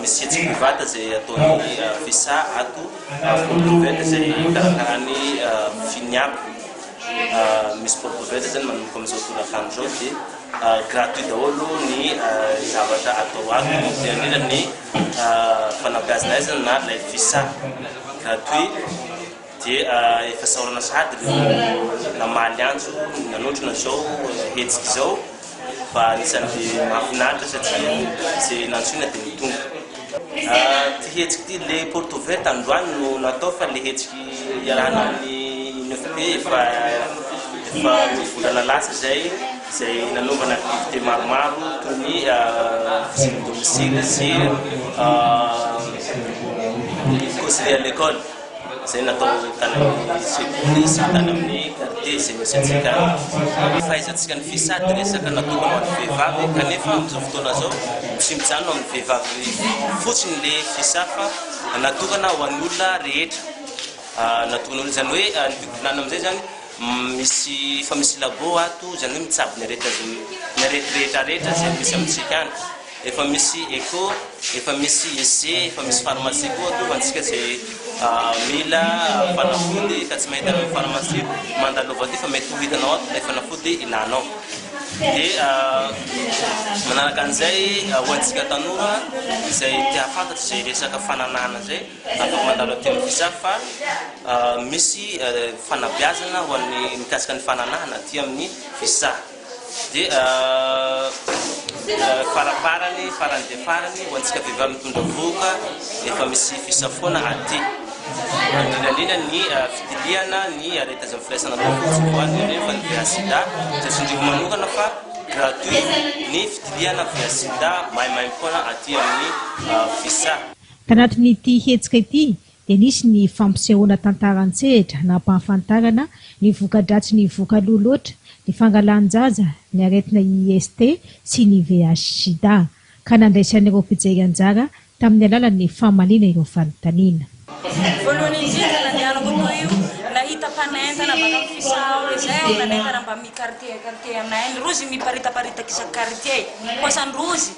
Misy hetsika mivanta izay ataon'ny Visa ato Porto-Velho izay hikarakarany Finiaby. Misy Porto-Velho izay manomboka amin'izao tolakandro izao dia gratuit daholo ny zavatra atao ato na dia indrindra ny fanabeazana aizana na ilay Visa gratuit. Dia efa saorana sahady ireo namaly antso nanotrona izao hetsika izao fa anisan'ny mahafinaritra satria izay nantsoina dia tonga. Ity hetsika ity, ilay porte ouverte androany no natao fa ilay hetsika iarahana amin'ny INFP efa efa roa volana lasa izay izay nanaovana activité maromaro toy ny visite domicile sy conseiller à l'école. Izay natao tany amin'ny sekoly sy tany amin'ny quartier izay misy antsika any. Fahaizantsika ny Fisady resaka natokana ho an'ny vehivavy kanefa amin'izao fotoana izao tsy mijanona amin'ny vehivavy fotsiny le Fisà fa natokana ho an'ny olona rehetra. Natokana olona izany hoe ny bibilany amin'izay izany misy efa misy labo ato izany hoe mitsabo ny aretina izay ny arety rehetra rehetra izay misy amintsika any. Efa misy echo, efa misy IC, efa misy pharmacie koa atoa fa antsika izay mila fanafody ka tsy mahita any amin'ny pharmacie, mandalova aty fa mety ho hitanao ato ilay fanafody ilanao. Dia manaraka an'izay ho antsika tanora izay te hahafantatra izay resaka fananahana izay, afaka mandalo aty amin'ny Fisav fa misy fanabeazana ho an'ny mikasika ny fananahana aty amin'ny Fisav. Dia faraparany, farany dia farany, ho antsika vehivavy mitondra vohoka, efa misy fisafoana aty. Indrindra indrindra ny fitiliana ny arety azo amin'ny firaisana ara-potsiny, ho an'ny ireo efa niveha-sida. Tsotrindriko manokana fa gratuit ny fitiliana veha-sida maimaimpoana aty amin'ny Visa. Tanatin'ity hetsika ity, dia nisy ny fampisehoana tantara an-tsehatra nampahafantarana ny voka-dratsy ny voka loha loatra, ny fangalan-jaza, ny aretina IST sy ny VIH-Sida, ka nandraisan'ireo mpijery anjara tamin'ny alalan'ny famaliana ireo fanontaniana. Voalohany indrindra nandehanako toa io, nahita mpanentana baka amin'ny fisao izay ao nanentana mba mi-quartier quartier anay, ny rozy miparitaparitaka isan-quartier, kosa ny rozy.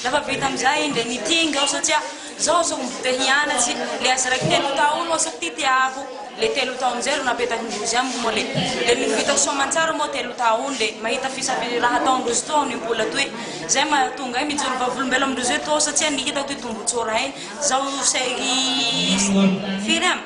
Rehefa vita amizay indray ny king aho satria zao zao mbo te hianatsy le azy raiky telo taon oa sa ty tiako le telo taon amizay ro napetaky ndrozy amiko moa le le mino vita soa amantsara moa telo taon le mahita fisafi raha ataon ndrozy toa ny mbola toy zay mahatonga ahy mijoro vavolombelon ndrozy toa satsia ny hitako ty tombotsoa rain zao sery firy am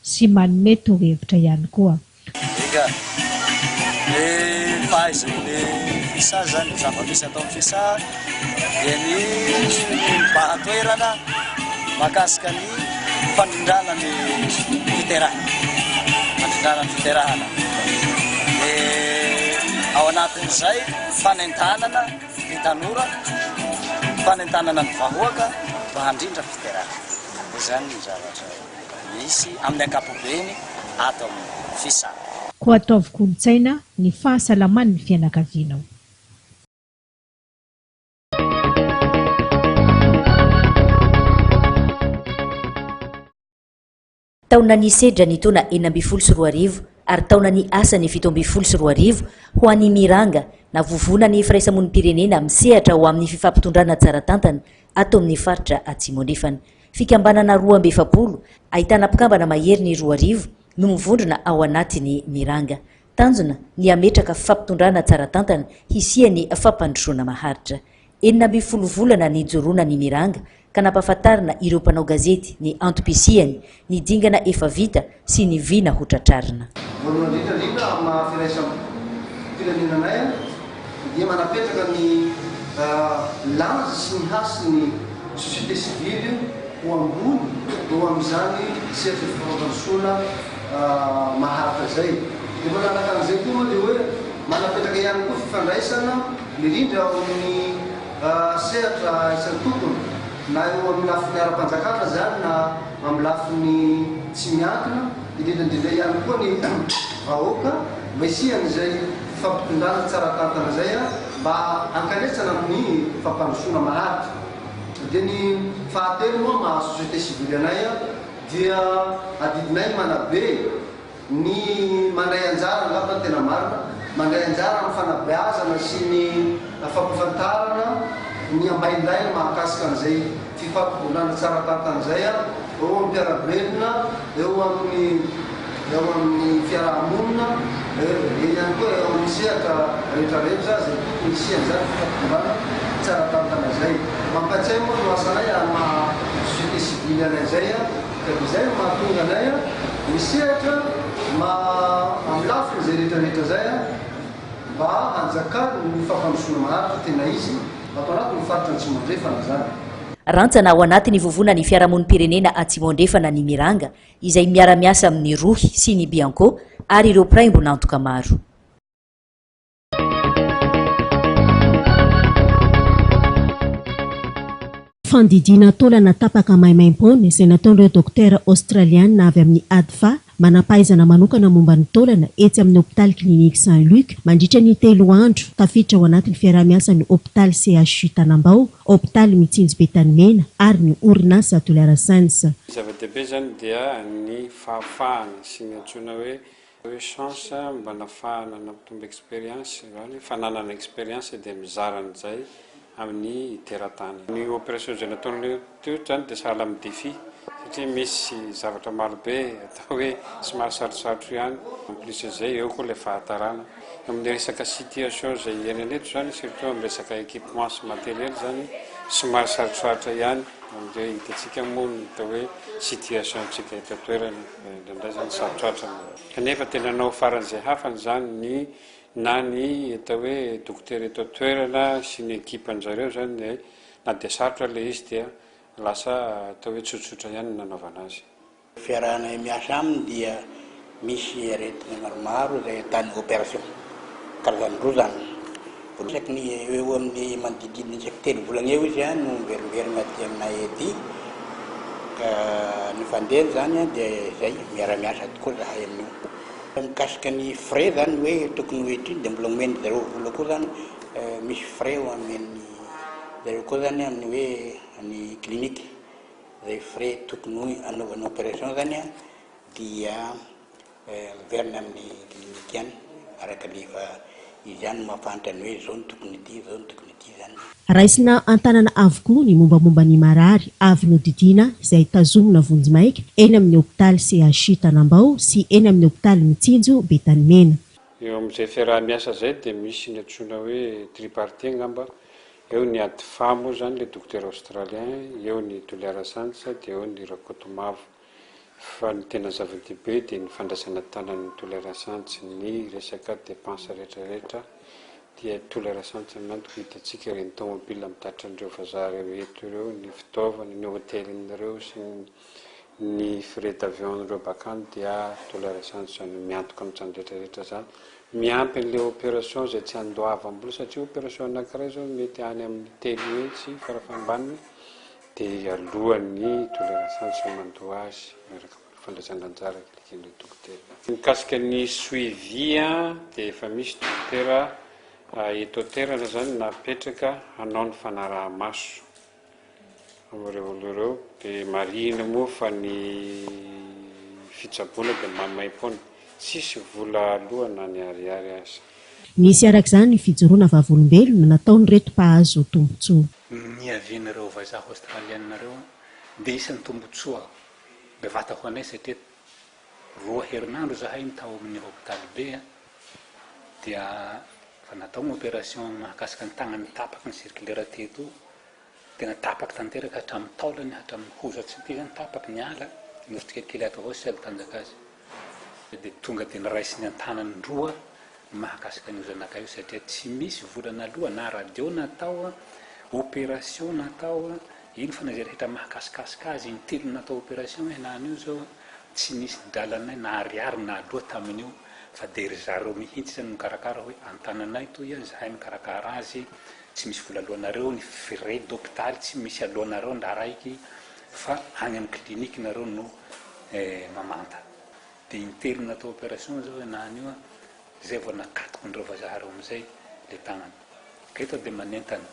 sy manome torohevitra ihany koa. Enga e! Fahaizan'ny Fisa izany ny zava-misy ato amin'ny Fisa dia ny mibahan-toerana mahakasika ny fandrindrana ny fiterahana, fandrindrana ny fiterahana. Dia ao anatin'izay fanentanana ny tanora, fanentanana ny vahoaka mba handrindra fiterahana. Izany ny zavatra. misy amin'ny ankapobeny ato amin'ny Fisac. Koa ataovy kolontsaina ny fahasalaman'ny fianakavianao. Taona ny sedra ny taona enina ambin'ny folo sy roa arivo ary taona ny asa ny fito ambin'ny folo sy roa arivo ho an'ny Miranga na Vovonan'ny Firaisamonim-pirenena misehatra ho amin'ny fifampitondrana tsara tantana ato amin'ny faritra Atsimo Andrefana. Fikambanana roa amby efapolo, ahitana mpikambana maherin'ny roa arivo, no mivondrona ao anatin'ny Miranga. Tanjona ny hametraka fifampitondrana tsara tantana hisian'ny fampandrosoana maharitra. Enina ambin'ny folo volana nijoroana ny Miranga ka nampahafantarina ireo mpanao gazety ny antom-pisiany, ny dingana efa vita, sy ny vina ho tratrarina. Voalohany indrindra indrindra amin'ny maha firaisam-pirenenanay dia manapetraka ny lanja sy ny hasin'ny société civile ho ambony eo amin'izany sehatry ny fifanaovan-tsola maharitra izay. Dia manaraka an'izay koa moa dia hoe manapetraka ihany koa fifandraisana mirindra ao amin'ny sehatra isan-tokony na eo amin'ny lafiny ara-panjakana izany na Amin'ny lafiny tsy miankina, indrindra indrindra ihany koa ny vahoaka mba hisian'izay fampitondràna tsara tantana izay mba hankanesana amin'ny fampandrosoana maharitra. Dia ny fahatelo moa maha société civile anay dia adidinay manabe. Ny mandray anjara angamba no tena marina, mandray anjara amin'ny fanabeazana sy ny fampafantarana ny ambaindainy mahakasika an'izay fifampivondrona tsara tahaka an'izay eo amin'ny mpiara-belona, eo amin'ny eo amin'ny fiaraha-monina, eo ihany koa eo amin'ny sehatra rehetrarehetra izay tokony hisian'izany fifampivondrona tsara tantana izay. Mampatsiahy moa ny eo asanay amin'ny maha société civile anay izay. Ka izay no mahatonga anay misehatra amin'ny lafiny izay rehetrarehetra izay mba hanjakan'ny fampandrosoana maharitra tena izy ato anatin'ny faritra Antsimo Andrefana izany. Rantsana ao anatin'ny vovonan'ny fiarahamonim-pirenena Atsimo Andrefana ny Miranga izay miara-miasa amin'ny Rohy sy ny Bianco ary ireo mpiray-mbon'antoka maro. Fandidiana taolana tapaka maimaimpoana izay nataon'ireo dokotera Aostraliana avy amin'ny ADFA, manam-pahaizana manokana momba ny taolana etsy amin'ny hopitaly Clinique Saint Luc, mandritra ny telo andro, tafiditra ao anatin'ny fiaraha-miasan'ny hopitaly CHU Tanambao, hopitaly Mitsinjo Be Tanimena ary ny orinasa Douleur Sense. Ny zava-dehibe izany dia ny fahafahana sy ny antsoina hoe Reo chance mba nafahana nampitombo experience zany hoe efa nanana experience dia mizara an'izay amin'ny teratany. Ny operation izay nataon'ireo teto zany dia sahala amin'ny défi satria misy zavatra marobe atao hoe somary sarotsarotro ihany en plus izay eo koa ilay fahatarana amin'ny resaka situation izay iainana eto zany surtout amin'ny resaka équipement sy matériel zany somary sarotrarotra ihany amin'ireo unité-tsika moa ny atao hoe situation-tsika eto an-toerana. Indraindray izany sarotra atrana. Kanefa tena nanao faran'izay hafany izany ny na ny atao hoe dokotera eto an-toerana sy ny ekipan-dry zareo izany dia na dia sarotra ilay izy dia lasa atao hoe tsotsotra ihany ny nanaovana azy. Fiarahanay miasa aminy dia misy aretina maromaro izay atany opération. Karazany roa izany. Betsaka ny eo eo amin'ny manodididina isaky telo volana eo izy no miverimberina aty aminay aty ka ny fandehany izany dia izay miara-miasa tokoa izahay amin'io. Fa mikasika ny frais izany hoe tokony ho étude dia mbola omen'ny zareo vola koa izany misy frais omen'ny zareo koa izany amin'ny hoe ny clinique izay frais tokony ho anaovana opération izany dia Miverina amin'ny clinique ihany araka ny efa izy ihany no mahafantra ny hoe izao no tokony ity, izao no tokony ity izany. Raisina an-tanana avokoa ny mombamomba ny marary avy nodidiana izay tazomina vonjimaika eny amin'ny hopitaly CHU Tanambao sy eny amin'ny hopitaly Mitsinjo Betanimena. Eo amin'izay fiaraha-miasa izay dia misy ny antsoina hoe tripartite angamba, eo ny Adfa moa izany ilay dokotera Australien, eo ny Toliara Science dia eo ny Rakotomavo. Fa ny tena zava-dehibe dia ny fandraisana tanan'ny tolérance antsy ny resaka dépenses rehetra rehetra dia tolérance antsy ny antoko hitantsika ireny tomobile mitatitra an'ireo vazaha ireo eto ireo, ny fitaovana, ny hotelin'ireo sy ny frais d'avion-n'ireo bakany dia tolérance antsy izany io miantoka amin'izany rehetra rehetra izany miampy an'ilay opération izay tsy andoavam-bola satria opération anankiray izao mety any amin'ny telo hetsy fara fahambaniny Dia alohan'ny hitondra ny asany sy mandoa azy miaraka amin'ny fandraisana anjara araka ny eken'ireo dokotera. Mikasika ny suivi dia efa misy dokotera eto an-toerana izany napetraka hanao ny fanaraha-maso amin'ireo olona ireo. Dia marihina moa fa ny fitsaboana dia maimaim-poana, tsisy vola aloa na ny ariary aza. Nisy araka izany fijoroana vavolombelona nataon'ireto mpahazo tombontsoa. Ny niavian'ireo vazaha Aostraliana ireo dia isan'ny tombontsoa bevata ho anay satria roa herinandro izahay no tao amin'ny hopitaly be dia efa natao ny opération mahakasika ny tagnany tapaky ny circulaire teto tena tapaky tanteraka hatramin'ny taolany hatramin'ny hozatry ny ity izany tapaky ny ala nosy tsikelikely ato avao sy tsy ady tanjaka azy. Dia tonga dia noraisiny an-tanany roa ny mahakasika an'io zanakay io satria tsy misy vola naloa na radio natao, opération natao, iny foana izay rehetra mahakasikasika azy, intelo natao opération ialany io izao, tsy nisy dralanay na ariary naloa tamin'io fa dia ry zareo mihitsy izany no nikarakara hoe an-tananay toy an, izahay mikarakara azy, tsy misy vola aloanareo, ny frais d'hopitaly tsy misy aloanareo ny raharahiky fa any amin'ny clinique nareo no Eh mamanta. Dia interina atao opération zao ianà anio a, zay vao nakatokin'ireo vazaha reo amizay le tagnany. Ka eto dia manentana,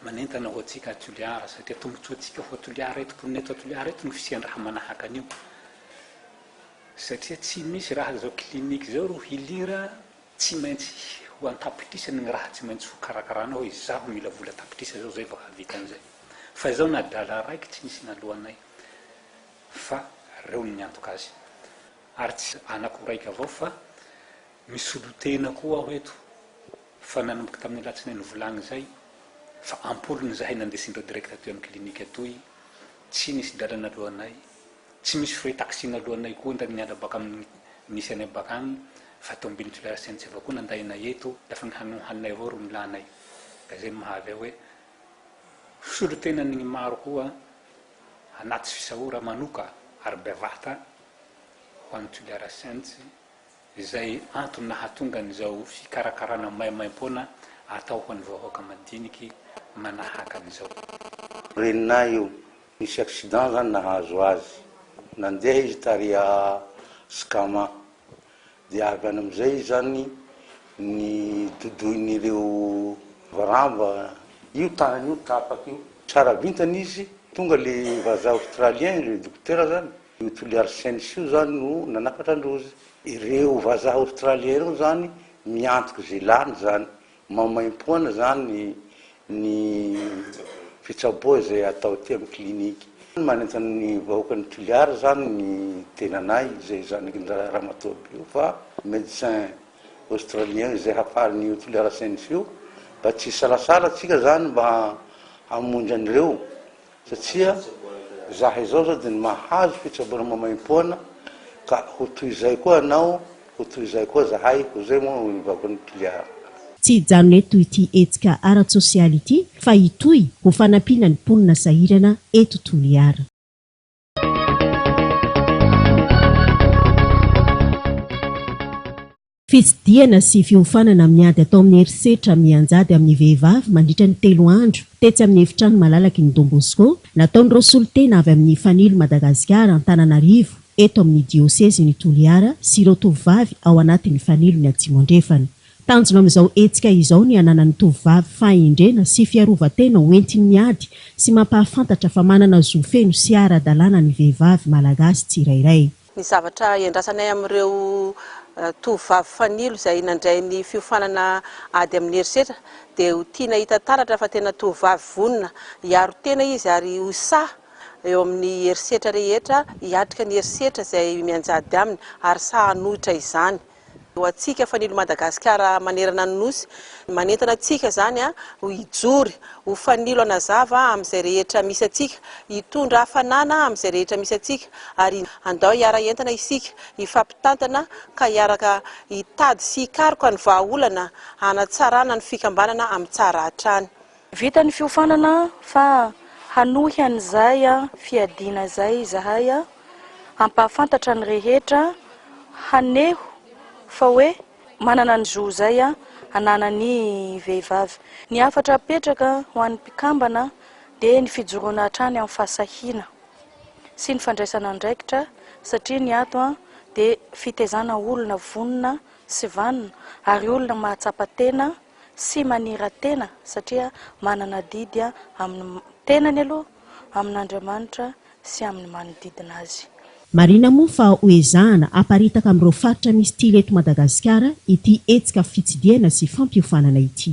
manentana ho antsika a Toliara satria tombotsoantsika ho a Toliara eto, mponina eto a Toliara eto no fisian-draha manahaka an'io. Satria tsy misy raha zao clinique zao ro hilira tsy maintsy ho an-tapitrisany gny raha tsy maintsy ho karakarana hoe izaho mila vola tapitrisa zao zay vao hahavita an'izay. Fa izao na adala raiky tsy nisy naloanay. fa reo no niantoka azy ary tsy anako raika avao fa misolotena koa aho eto fa nanomboka tamin'ny alatsinainy volagny zay fa ampolony zahay nandesindreo direct atoy am clinique atoy tsy nisy drala naloanay tsy misy frais taxi naloanay koa ndra niala baka amin'ny nisy anay bakagny fa tombiny filahatsiantsy avao koa nandainay eto fa ny hanohanay avao ro nilanay ka zay mahavy ahy hoe Solontenany ny maro koa anaty fisaora manoka ary bevata ho an'i Toliara Saints izay antony nahatonga an'izao fikarakarana maimaimpoana atao ho an'ny vahoaka madiniky manahaka an'izao. Reninay io, nisy accident zany nahazo azy, nandeha izy tary à Skama. Dia avy any amin'izay izany ny dodoin'ireo varamba io tanany io tapaka io. Tsara vintana izy, tonga ilay vazaha Australien, ilay dokotera izany, io Toliary Saints io izany no nanafatra an-drozy. Ireo vazaha Australien ireo izany miantoka izay lany izany, Maimaimpoana izany ny fitsaboa izay atao aty amin'ny clinique. Manentana ny vahoakan'i Toliara izany ny tenanay izay zanakin'dra Ramatoa Bio fa médecin Australien izay hafarin'io Toliara Science io mba tsy hisalasala tsika izany mba hamonjy an'ireo Satria izaho izao izao dia mahazo fitsaboana maimaimpoana ka ho toy izay koa ianao, ho toy izay koa izahay, hoy izay moa ny vakoan'i Toliara. Tsy hijanona eto ity hetsika ara-tsosialy ity fa hitohy ho fanampiana ny mponina sahirana eto Toliara. Fitsidihana sy fiofanana amin'ny ady atao amin'ny herisetra mianjady amin'ny vehivavy mandritra ny telo andro tetsy amin'ny efitrano malalaky ny Don Bosco, nataon'ireo solontena avy amin'ny Fanilo Madagasikara Antananarivo eto amin'ny diosezin'i Toliara sy ireo tovovavy ao anatin'ny Fanilony Atsimo Andrefana. Tanjona amin'izao hetsika izao ny hananan'ny tovovavy fahendrena sy fiarovan-tena ho entiny miady sy mampahafantatra fa manana zo feno sy ara-dalàna ny vehivavy Malagasy tsirairay. Ny zavatra iandrasanay amin'ireo tovovavy fanilo izay nandray ny fiofanana ady amin'ny herisetra dia ho tiana hita taratra fa tena tovovavy vonona hiaro tena izy ary ho sahy eo amin'ny herisetra rehetra, hiatrika ny herisetra izay mianjady aminy ary sahy hanohitra izany. ho antsika fanilo Madagasikara manerana ny Nosy. Manentana antsika izany ho hijory ho fanilo hanazava amin'izay rehetra misy antsika, hitondra hafanana amin'izay rehetra misy antsika ary andao hiara-hientana isika, hifampitantana ka hiaraka hitady sy hikaroka ny vahaolana hanatsarana ny fikambanana amin'ny tsara hatrany. Vita ny fiofanana fa hanohy an'izay fiadiana izay izahay hampahafantatra ny rehetra haneho fa hoe manana ny zo izay ananan'ny vehivavy. Ny hafatra apetraka ho an'ny mpikambana dia ny fijoroana hatrany amin'ny fahasahiana sy ny fandraisana andraikitra satria ny ato dia fitezana olona vonona sy vanona ary olona mahatsapa tena sy manira-tena satria manana adidy amin'ny tenany aloha, amin'Andriamanitra sy amin'ny manodidina azy. Marina moa fa ho ezahana haparitaka amin'ireo faritra misy tily eto Madagasikara ity hetsika fitsidihana sy fampiofanana ity.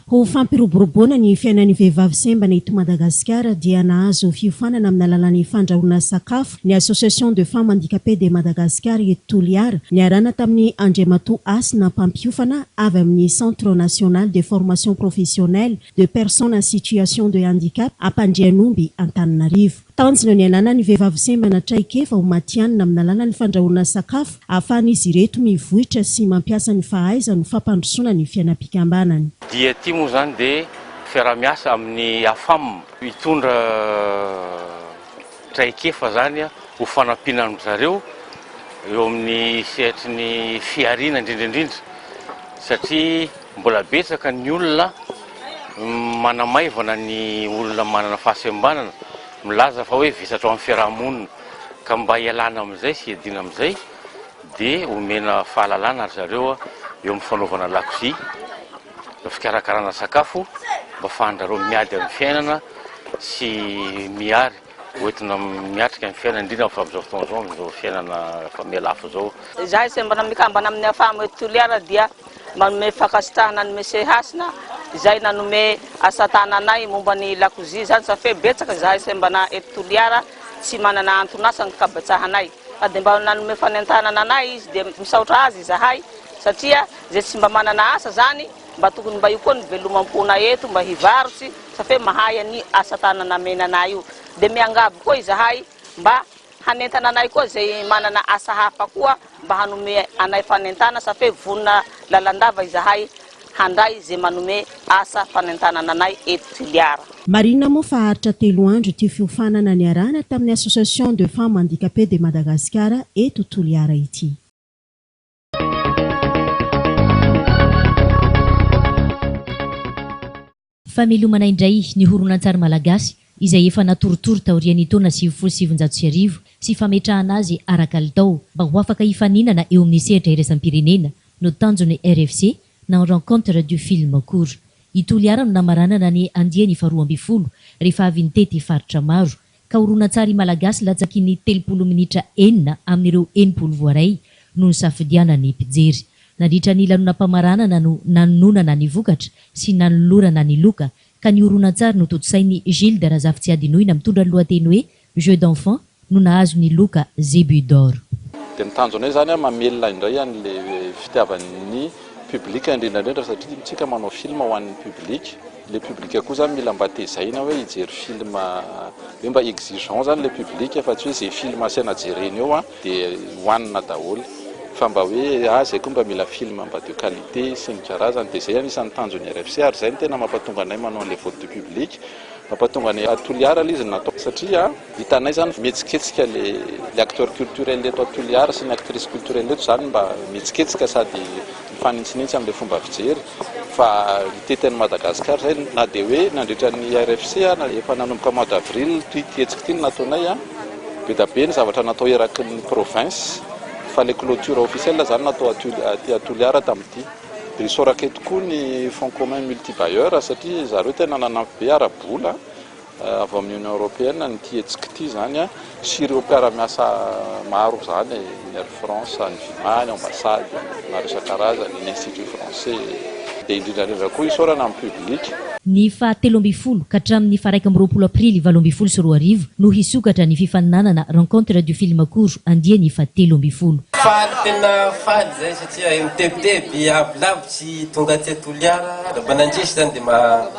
Ho fampiroboroboana ny fiainan'ny vehivavy sembana eto Madagasikara dia nahazo fiofanana amin'ny alalan'ny fandrahoana sakafo ny Association de Femmes Handicapées de Madagascar eto Toliara, niarahana tamin'i Andriamatoa Hasina mpampiofana avy amin'ny Centre National de Formation Professionnelle de Personnes en Situation de Handicap Ampandrianomby Antananarivo. Tanjona ny hanana ny vehivavy sembana traikefa ho matihanina amin'ny alalan'ny fandrahoana sakafo ahafahan'izy ireto mivoitra sy mampiasa ny fahaizany ho fampandrosoana ny fiainam-pikambanany. Dia ity moa izany dia fiaraha-miasa amin'ny AFAM hitondra traikefa izany ho fanampiana an-dry zareo eo amin'ny sehatry ny fihariana indrindra indrindra satria Mbola betsaka ny olona manamaivana ny olona manana fahasembanana, milaza fa hoe vesatra ao amin'ny fiaraha-monina, ka mba hialana amin'izay sy hiadiana amin'izay dia omena fahalalana ry zareo eo amin'ny fanaovana lakozia, fikarakarana sakafo mba afahan-dry zareo miady amin'ny fiainana sy mihary. Hoentina miatrika ny fiainana, indrindra amin'izao amin'izao fotoana izao, amin'izao fiainana efa mihalafo izao. Izahay izay mbola mikambana amin'ny Afam eto Toliara dia manome fankasitrahana an'i Monsieur Hasina izay nanome asa tananay momba ny lakozia izany satria betsaka izahay izay mbola eto Toliara tsy manana anton'asa ny kabetsahanay ka dia mba nanome fanentanana anay izy dia misaotra azy izahay satria izay tsy mba manana asa izany mba tokony mba io koa ny velomam-ponay eto mba hivarotsy Sa fe mahay an io asa tanana amena anay io de miangavy koa izahay mba hanentana anay koa zay manana asa hafa koa mba hanome anay fanentana sa fe vonona lalandava izahay handray ze manome asa fanentanana anay eto Toliara. Marina moa fa haharitra telo andro ity fiofanana niarahana tamin'ny Association de Femmes Handicapées de Madagascar eto Toliara ity. Famelomana indray ny horonantsary malagasy izay efa natorotoro taorian'ny taona sivifolo sy sivinjato sy arivo sy fametrahana azy ara-kalitao mba ho afaka hifaninana eo amin'ny sehatra iraisam-pirenena no tanjon'ny RFC na Rencontre du Film Court. I Toliara no namaranana ny andiany faharoa ambin'ny folo rehefa avy nitety faritra maro ka horonantsary malagasy latsaky ny telopolo minitra enina amin'ireo enimpolo voaray no nisafidianan'ny mpijery. Nandritra ny lanonam-pamaranana no nanononana ny vokatra sy nanolorana ny loka ka ny horonantsary notontosain'i Gilda Razafitsiadinoina mitondra ny lohateny hoe Jeux d'enfants no nahazo ny loka Zébut d'or. Dia ny tanjonay izany mamelona indray an'ilay fitiavan'ny public indrindra indrindra satria ny tsika manao film ho an'ny public. Le public koa zany mila mba tezaina hoe hijery film hoe mba exigeant zany le public fa tsy hoe ze film asaina jereny eo an de hoanina daholo fa mba hoe ah zay koa mba mila film mba de qualité sy ny karazany de zay anisany tanjon'ny RFC ary zay no tena mapatonga anay manao anle vote du public mapatonga anay ah Toliara le izy no natao satria Vitanay zany mihetsiketsika le le acteur culturel eto à Toliara sy ny actrice culturel eto zany mba mihetsiketsika sady mifanintsinintsy amle fomba fijery fa mitety an'i Madagascar zay na de hoe nandritra ny RFC na efa nanomboka mois d'avril ty hetsika ty no nataonay a bedabe ny zavatra natao eraky ny province fa le cloture officiel zany natao aty aty à Toliara tamty de isaoraka eto koa ny fonds commun multibailleur satria zareo tena nanampy be ara-bola avy amin'ny Union Européenne an'ity hetsika ity izany sy ireo mpiara-miasa maro izany, ny Air France, ny Vima, ny Ambassade maro isan-karazany, ny Institut Français, dia indrindra indrindra koa isaorana ny Public. Ny faha telo ambin'ny folo ka hatramin'ny faha iraika amby roapolo Aprily valo ambin'ny folo sy roa arivo no hisokatra ny fifaninanana Rencontre du Film Court andiany faha telo ambin'ny folo. Faly tena faly izay satria mitebiteby avolavo tsy tonga aty Toliara, raha mba nandresy izany dia maha.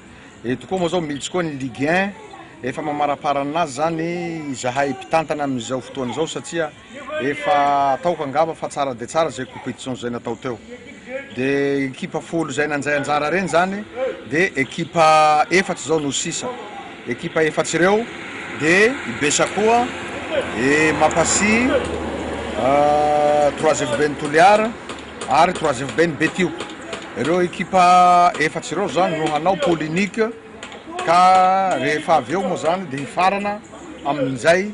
Eto koa moa zao misy koa ny Ligue un, efa mamaraparana anazy zany izahay mpitantana amin'izao fotoana izao satria efa ataoko angamba fa tsara dia tsara izay competition izay natao teo. Dia ekipa folo izay nandray anjara ireny zany dia ekipa efatra izao no sisa. Ekipa efatra ireo dia i Besa koa, i Mapasi, ah, Trois Evo Ben'ny Toliara, ary troisième be ny Betio. Ireo ekipa efatra ireo izany no hanao poule unique ka rehefa avy eo moa izany dia hifarana amin'izay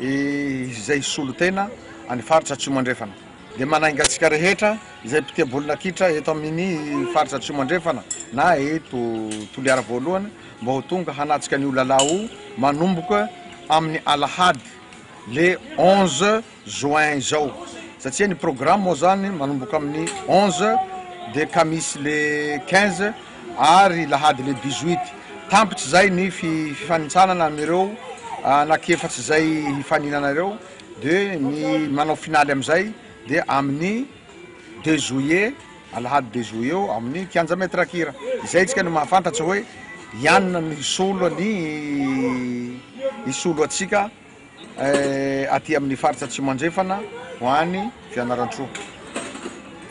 izay hisolo tena any faritra Atsimo Andrefana. Dia manainga antsika rehetra izay mpitia baolina kitra eto amin'ny faritra Atsimo Andrefana na eto Toliara voalohany mba ho tonga hanatrika an'io lalao io manomboka amin'ny alahady le 11 juin izao satsia ny programme moa zany manomboka amin'ny onze dia ka misy le quinze ary lahady le dix huit tampitsy zay ny fifanintsanana amireo anaky efatsy zay hifaninana ireo de ny manao finaly amizay de amin'ny deux juillet alahady deux juillet eo amin'ny kianja maitre kira izay itsika no mahafantatsa hoe ianona no hisolo ny hisolo atsika aty amin'ny faritra Atsimo Andrefana ho any Fianarantsoa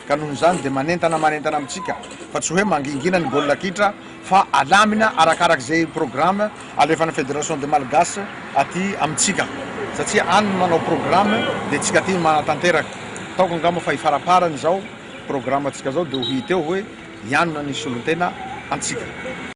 ka noho izany dia manentana manentana amintsika fa tsy hoe mangingina ny baolina kitra fa alamina arakaraka izay programme alefan'ny Fédération des Malgaches aty amintsika satria any no manao programme dia tsika aty no manatanteraka ataoko angamba fa ifaraparany izao programme antsika izao dia ho hita eo hoe hianona ny solontena antsika.